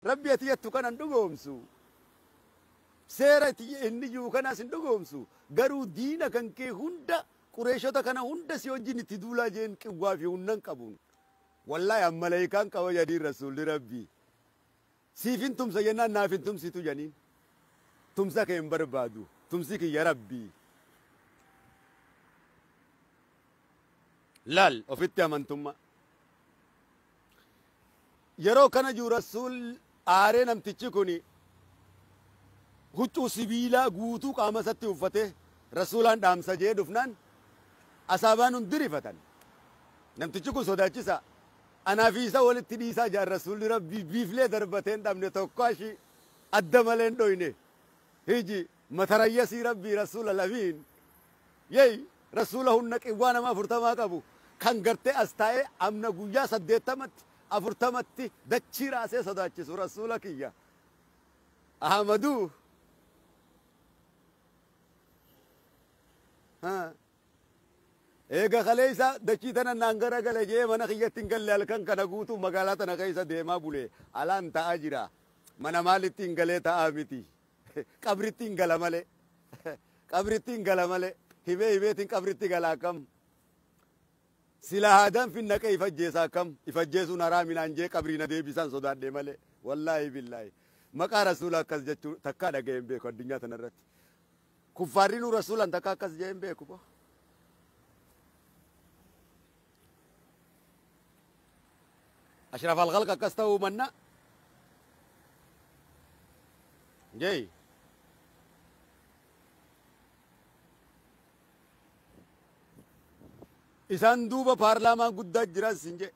Rabbi ati jattu kana hin dhugoomsu. Seera ati inni jiru kanaas hin dhugoomsu. Garuu diina kan kee hunda Qureeshota kana hunda si wajjin itti duulaa jeen qiwwaa fi hunnan qabuun. Wallaahi an malayikaan qaba jedhiin rasuulli Rabbi. Siif hin tumsa jennaan naaf hin tumsitu jedhiin. Tumsa kee hin barbaadu. Tumsi kiyya Rabbi. Laal ofitti amantummaa. Yeroo kana jiru Rasuul aaree namtichi kuni huccuu sibiilaa guutuu qaama isatti uffatee Rasuulaan dhaamsa je'ee dhufnaan Asaabaan hundi rifatan. Namtichi kun sodaachisaa. Anaa fi isa walitti dhiisaa ja'an Rasuulli Rabbii biiflee darbatee hin dhabne tokko ashii adda malee hin dhoyne. Hiji Matarayyasii Rabbii Rassul Al Amiin Yey Rassuula hunna qiwwaa nama afurtamaa qabu kan gartee as taa'ee amna guyyaa saddeettamatti afurtamatti dachii raasee sodaachisu Rassuula kiyya Ahamaduu Haa Eega kaleessa dachii tana naan gara gale jee mana kiyyatti hin galle halkan kana guutuu magaalaa tana keessa deemaa bule alaan ta'aa jira mana maalitti hin galee ta'aa miti Qabrittin gala male Qabrittin gala male Himee himeetin qabritti gala akkam Silaa haadaan fin naqee if ajjeesa akkam If ajjeesuun haraami naan jee qabrii na deebisaan sodaadhee male Wallaahi billaahi Maqaa rasuula akkas jechuu takkaa dhaga'ee hin beeku addunyaa tanarratti Kuffaarrinuu rasuulan takka akkas jee hin beeku boo Ashraf al-Khalq akkas ta'uu manna Jay isaan duuba paarlaamaan guddaa jiran sin jee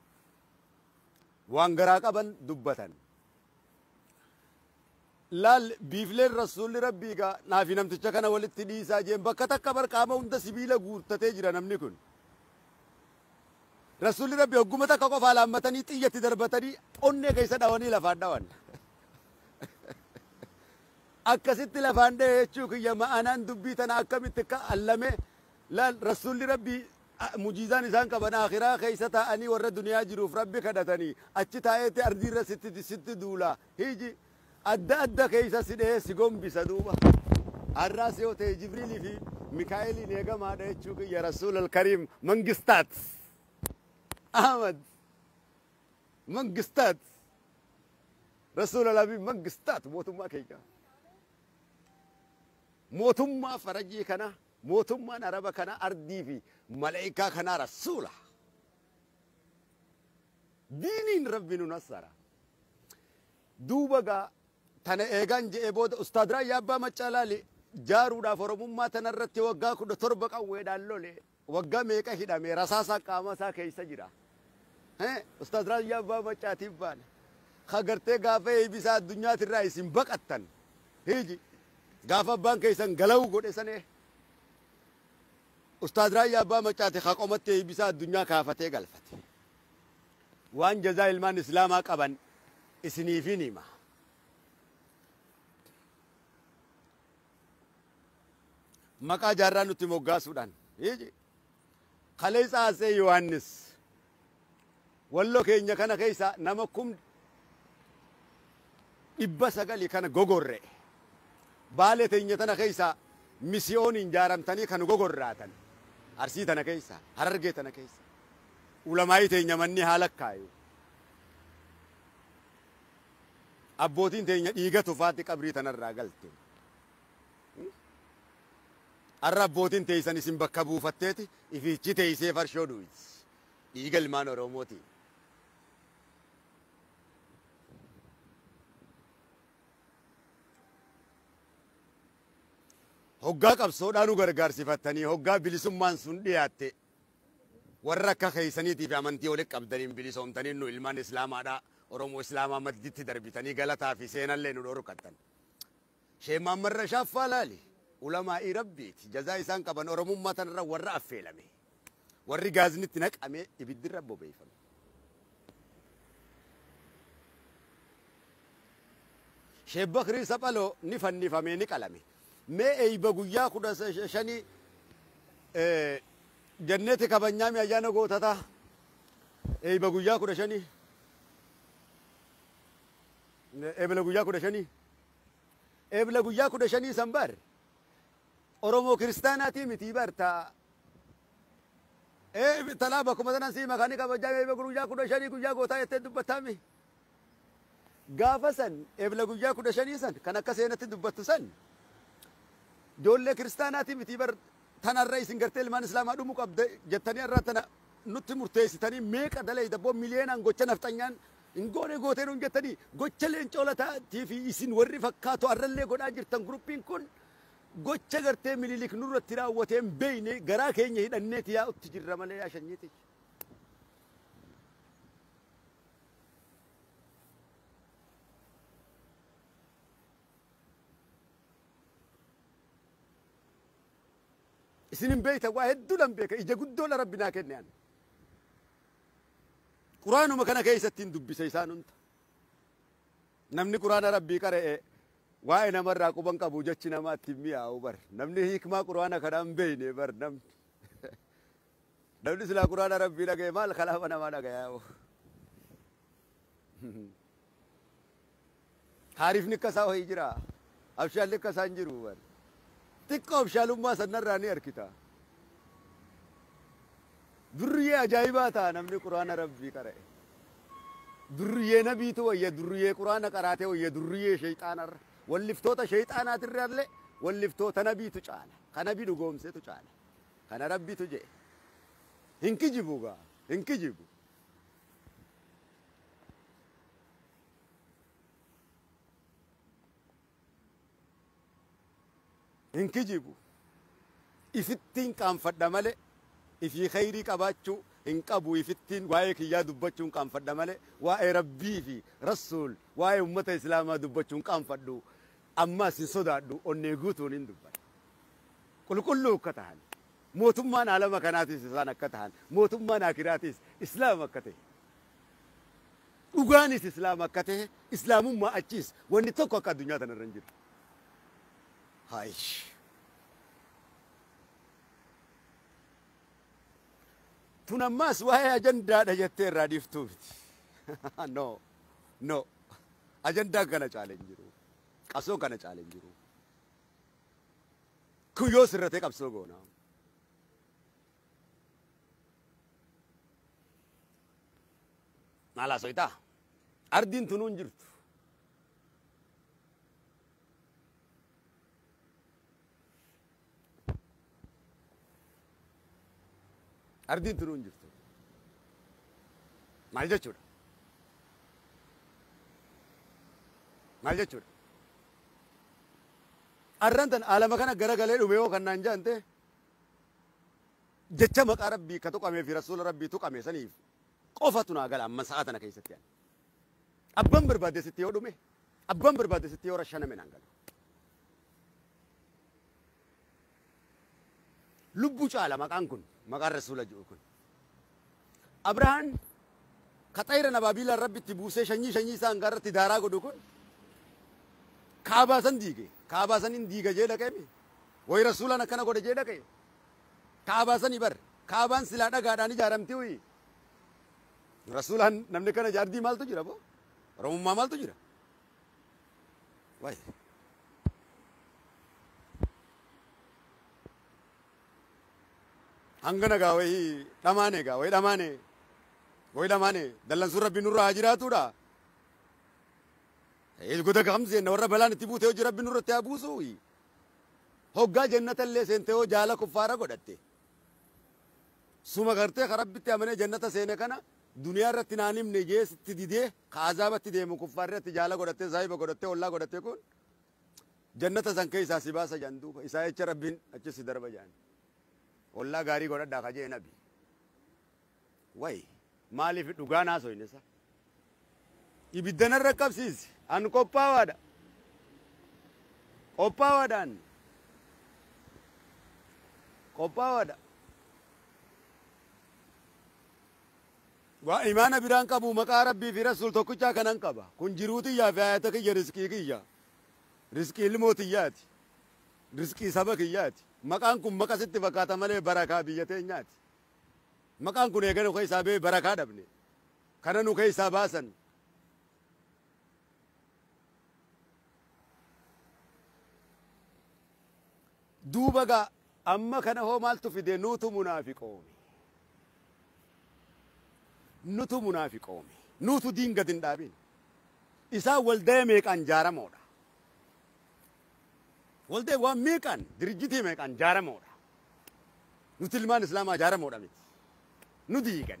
waan garaa qaban dubbatan. Laal, biifleen Rassuulli Rabbii gaa, naa fi namticha kana walitti dhiisaa jeen, bakka takka bar qaama hunda sibiila guuttatee jira namni kun. Rassuulli Rabbii hogguma takka qofa alaammatanii xiyya itti darbatanii onnee keessa dhawanii lafaan dhawan. Akkasitti lafaan dhahe jechuu kiyya ma'anaan dubbii tana akkamitti akka allame laal Rassuulli Rabbii a- mujiizaan isaan qaban akhiraa keessa taa'anii warra duniyaa jiruuf Rabbi kadhatanii achi taa'eetti ardiirra sitti sitti duulaa. Hiji adda adda keessa si dhahee si gombisa duuba har'aas yoo ta'e jibriilii fi mikaa'eliin eegamaadha jechuu kiyya rasuulal kariim mangistaat ahmad mangistaat rasuulal habiib mangistaat mootummaa keenya mootummaa farajii kana mootummaan araba kana ardii fi malaa'ikaa kanaa rasuula Diiniin Rabbi nu nassara. Duuba gaa tana eegaan je'ee booda Ustaad Raayyaa Abbaa Maccaa laali jaaruudhaaf Oromummaa tanarratti waggaa 17 qawweedhaan lole waggaa meeqa hidhame rasaasaan qaama isaa keessa jira. Hee Ustaad Raayyaa Abbaa Maccaatiif baana. Ka gartee gaafa eebisaa addunyaatirraa isin baqattan hiiji gaafa abbaan keessan galawuu godhe sanee Ustaaz Raayyaa Abbaa Maccaati ka qomatti eeybisaa addunyaa kaafatee galfate. Waan jazaa ilmaan Islaamaa qaban isiniifin hima. Maqaa jaarraa nutti moggaasuudhaan. Kaleessa Atsee Yohaannis. Wallo keenya kana keessa nama kum 900 kan gogorre. Baale teenya tana keessa misiyooniin jaaramtanii kan gogorraatan. Arsii tana keessa, Harargee tana keessa. Ulamaa'ii teenya manni haa lakkaayu. Abbootiin teenya dhiiga tufaatti qabrii tanarraa galte. Arra abbootiin teeysan isin bakka buufatteeti ifiichi teeysee farshoo dhuyti. Dhiiga ilmaan Oromootiin. Hoggaa qabsoodhaa nu gargaarsifattanii hoggaa bilisummaan sun dhiyaatte warra akka keessaniitii fi amantii walitti qabdaniin bilisoomtanii nu ilmaan Islaamaadhaa Oromoo Islaamaa madditti darbitanii galataa fi seenallee nu dhorkattan. Sheikh Muhammad Rashaad Faalaali ulamaa'ii Rabbiiti. Jazaa isaan qaban Oromummaa tanarra warra affeelame. Warri gaazni itti naqamee ibiddi irra bobeeyfame. Sheikh Bakrii Saphaloo ni fannifamee ni qalame. Mee eeyba guyyaa kudha shanii jenneti kabanyaami ayyaana gootataa. Eeyba guyyaa kudha shanii. Ebela guyyaa kudha shanii. Ebla guyyaa kudha shanii san bar Oromoo kiristaanaatii mitii bar ta ee talaa bakkuma sanan sii makaanii kabajaa mee guyyaa kudha shanii guyyaa gootaa jettee dubbattaami. Gaafa san ebla guyyaa kudha shanii san kan akka seenatti dubbattu san ijoollee kiristaanaatii mitii bar tanarra isin gartee ilmaan islaamaa dhumu qabda jettanii irraa tana nutti murteessitanii meeqa dalee dabboo miliyoonaan gocha nafxanyaan Hin goone gootee nuun jettanii gocha leencoo lataa tii fi isin warri fakkaatu arrallee godhaa jirtan guruppiin kun gocha gartee mililik nurratti raawwatee hin beeyne garaa keenya hidhanneeti yaa'utti jirra malee yaa shanyii tiyya. Isin hin beeytan waa hedduudhan beeka ija guddoodha rabbi naa kenne ani. Quraanuma kana keessattiin dubbisa isaan hunda. Namni Quraana Rabbii qara'e waa'ee namarraa quba hin qabu jechi namaa itti hin mi'aawu bar. Namni hiikmaa Quraana kanaa hin beekne bar namni. Namni silaa Quraana Rabbii dhaga'e maal kalaama namaa dhagayaa hoo. Taarifni akka isaa wayi jiraa? Abshaalli akka isaa hin jiru bar. Xiqqo abshaalummaa san narraa ni arkita. Durriyee ajaa'ibaa ta'a namni quraana rabbii qara'e. Durriyee nabiitu wayya durriyee quraana qaraate wayya durriyee sheeyxaanarra. Walliftoota sheeyxaanaatirraallee walliftoota nabiitu caala. Ka nabi dhugoomsetu caala. Kana rabbitu je'e. Hin kijibu gaa. Hin kijibu. Hin kijibu. Ifittiin qaanfadha malee ifii kheyrii qabaachuu hin qabu ifittiin waa'ee kiyyaa dubbachuun qaanfadha malee waa'ee Rabbii fi Rassuul waa'ee ummata Islaamaa dubbachu hin qaanfadhu ammaas hin sodaadhu onnee guutuun hin dubbadha. Qulqulluu akka tahan mootummaan aalama kanaatiis isaan akka tahan mootummaan aakiraatiis Islaama akka tahe Dhugaanis Islaama akka tahe, Islaamummaa achiis wanni tokko akka addunyaa tana irra hin jiru. Haayish. Tun ammaas waa'ee ajandaadha jettee irraa dhiiftuu miti. No, no. Ajandaan kana caale hin jiru. Qabsoon kana caale hin jiru. Kun yoo sirratee qabsoo goona. Maal haasoytaa? Ardiin tunuu hin jirtu. Ardiin tunuu hin jirtu. Maal jechuudha? Maal jechuudha? Arran tan alama kana gara galee dhume yoo kan naan jaante jecha maqaa rabbii ka tuqamee fi rasuula rabbii tuqame saniif qofatu naa gala amma sa'a tana keessatti ani abban barbaadde sitti yoo dhume abban barbaadde sitti yoo rashaname naan gala lubbu caala maqaan kun maqaan rasuula ji'u kun Abrahaan ka xayira nabaabiilaan Rabbi itti buusee shanyii shanyii isaa hangaa irratti daaraa godhu kun kaabaa san diige. Kaabaa san hin diiga jee dhaqee mi? Way rasuulaan akkana godhe jee dhaqee? Kaabaa sani bar. Kaabaan silaa dhagaadhaan ijaaramti uyi. Rasuulaan namni kana jaardii maaltu jira boo? Oromummaa maaltu jira? Way. hangana gaa wayii dhamaane gaa wayii dhamaane wayii dhamaane dallansuun rabbi nurra haa jiraatuudha. Goda kam seenna warra balaan itti buute hojii rabbi nurratti haa buusu. Hoggaa jannata illee seente hoo jaala kuffaara godhatte. Suma gartee ka rabbitti amanee jannata seene kana duniyaa irratti naan himne jee sitti didee ka azaabatti deemu kuffaarratti jaala godhattee saahiba godhattee ollaa godhattee kun Jannata san keessaa si baasa jedhan duuba isaa jecha Rabbiin achi si darba jedhan. Ollaa gaarii godhadhaa ka jee nabi. Wayi maaliif dhugaa naasoyne isaa. Ibidda narra qabsiisi an qophaawaadha. Qophaawaadha an. Qophaawaadha. Waa imaana biraa hin qabu maqaa Rabbii fi Rasuul tokkichaa kanan qaba. Kun jiruu tiyyaa fi haayata kiyya rizqii kiyya. Rizqii ilmoo tiyyaati. Rizqii saba kiyyaati. Maqaan kun maqa sitti fakkaata malee barakaa biyya teenyaati. Maqaan kun eega nu keessaa ba'e barakaa dhabne. Kana nu keessaa baasan. Duuba gaa amma kana hoo maaltu fide nuutu munaafiqoome. Nutu munaafiqoome. Nuutu diin gad hin dhaabin. Isaan waldaya meeqaan jaaramoodha. Waldaya waan meeqaan dirijjitii meeqaan jaaramoodha. Nuti ilmaan islaamaa jaaramoodha miti. Nu diigan.